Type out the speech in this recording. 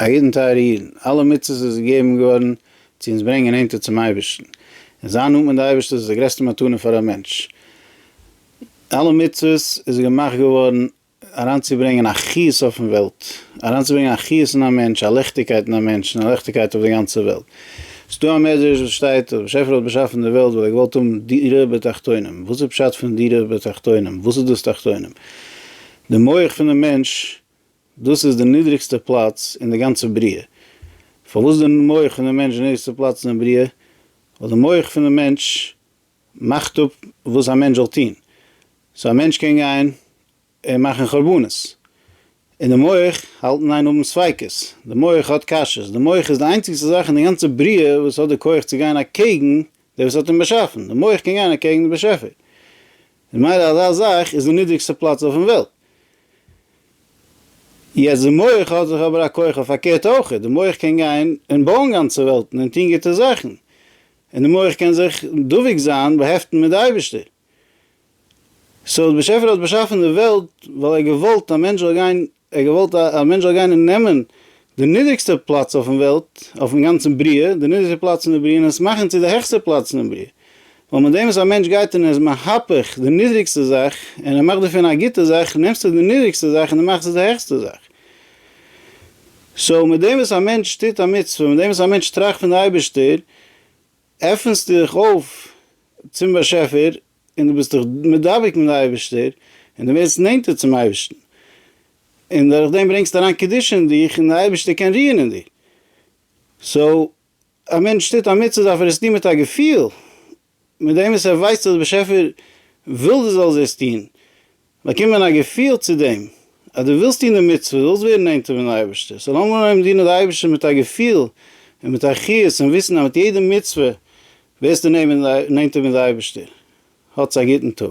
א יעדן טייערע אידן, אלע מצוות איז געגעבן געווארן צו אונז ברענגען נענטער צום אייבערשטן, און זיין נאנט מיט די אייבערשטער איז די גרעסטע מתנה פאר א מענטש, אלע מצוות איז געמאכט געווארן אריינצוברענגען א חיות אויפן וועלט, אריינצוברענגען א חיות אין א מענטש, א לעכטיגקייט אין א מענטש, און א לעכטיגקייט אויף די גאנצע וועלט. ס'איז דא א מדרש וואס שטייט אז באשעפער האט באשאפן די וועלט ווייל ער האט געוואלט האבן דירה בתחתונים, וואס איז פשט פון דירה בתחתונים? וואס איז דאס תחתונים? די מח פונעם מענטש דאס איז די נידריגסטע פלאץ אין די גאנצע בריאה. פארוואס איז די מח פון די מענטש די נידריגסטע פלאץ אין די בריאה? ווייל די מח פון די מענטש מאכט אפ וואס א מענטש זאל טון. סאו א מענטש קען גיין און מאכן חרבנות. און די מח האלט און איין האבן ספיקות. די מח האט קשיות. די מח איז די איינציגסטע זאך אין די גאנצע בריאה וואס האט די כח צו גיין אקעגן דער וואס האט אים באשאפן. די מח קען גיין אקעגן די באשעפער. ממילא אזא זאך איז די נידריגסטע פלאץ אויפן וועלט. יעצט די מח האט זיך אבער א כח פארקערט אויכעט, די מח קען גיין און בויען גאנצע וועלטן און טוהן גוטע זאכן, און די מח קען זיך דבוק זיין באהעפטן מיט די אייבערשטער. סאו די באשעפער האט באשאפן די וועלט ווייל ער האט געוואלט א מענטש זאל גיין ער האט געוואלט אז א מענטש זאל גיין און נעמען די נידריגסטע פלאץ אויפן וועלט, אויפן גאנצן בריאה, די נידריגסטע פלאץ אין די בריאה און עס מאכן צו די העכסטע פלאץ אינעם בריאה. ווייל מיט דעם וואס א מענטש גייט און ער איז מהפך די נידריגסטע זאך און ער מאכט דערפון א גוטע זאך, נעמסטו די נידריגסטע זאך און די מאכסט עס די העכסטע זאך. סאו מיט דעם וואס א מענטש טוט א מצוה, מיט דעם וואס א מענטש טראכט פון די אייבערשטער, עפנסטו דיך אויף צום באשעפער און דו ביסט דיך מדבק מיט די אייבערשטער און דו ווערסט נענטער צום אייבערשטן, און דורך דעם ברענגסטו אריין קדושה אין דיך און די אייבערשטער קען רוען אין דיר. סאו א מענטש טוט א מצוה דארף ער עס טון מיט א געפיל, מיט דעם וואס ער ווייסט אז די באשעפער וויל דו זאלסט דאס טון, באקומען א געפיל צו דעם אז דו ווילסט טון די מצוה, דו ווילסט ווערן נענטער פון די אייבערשטער, סאו לאמיר אנהויבן דינען די אייבערשטער מיט א געפיל און מיט א חיות און וויסן אז מיט יעדע מצוה ווערסטו נענטער מיט די אייבערשטער. האטס א גוטן טאג.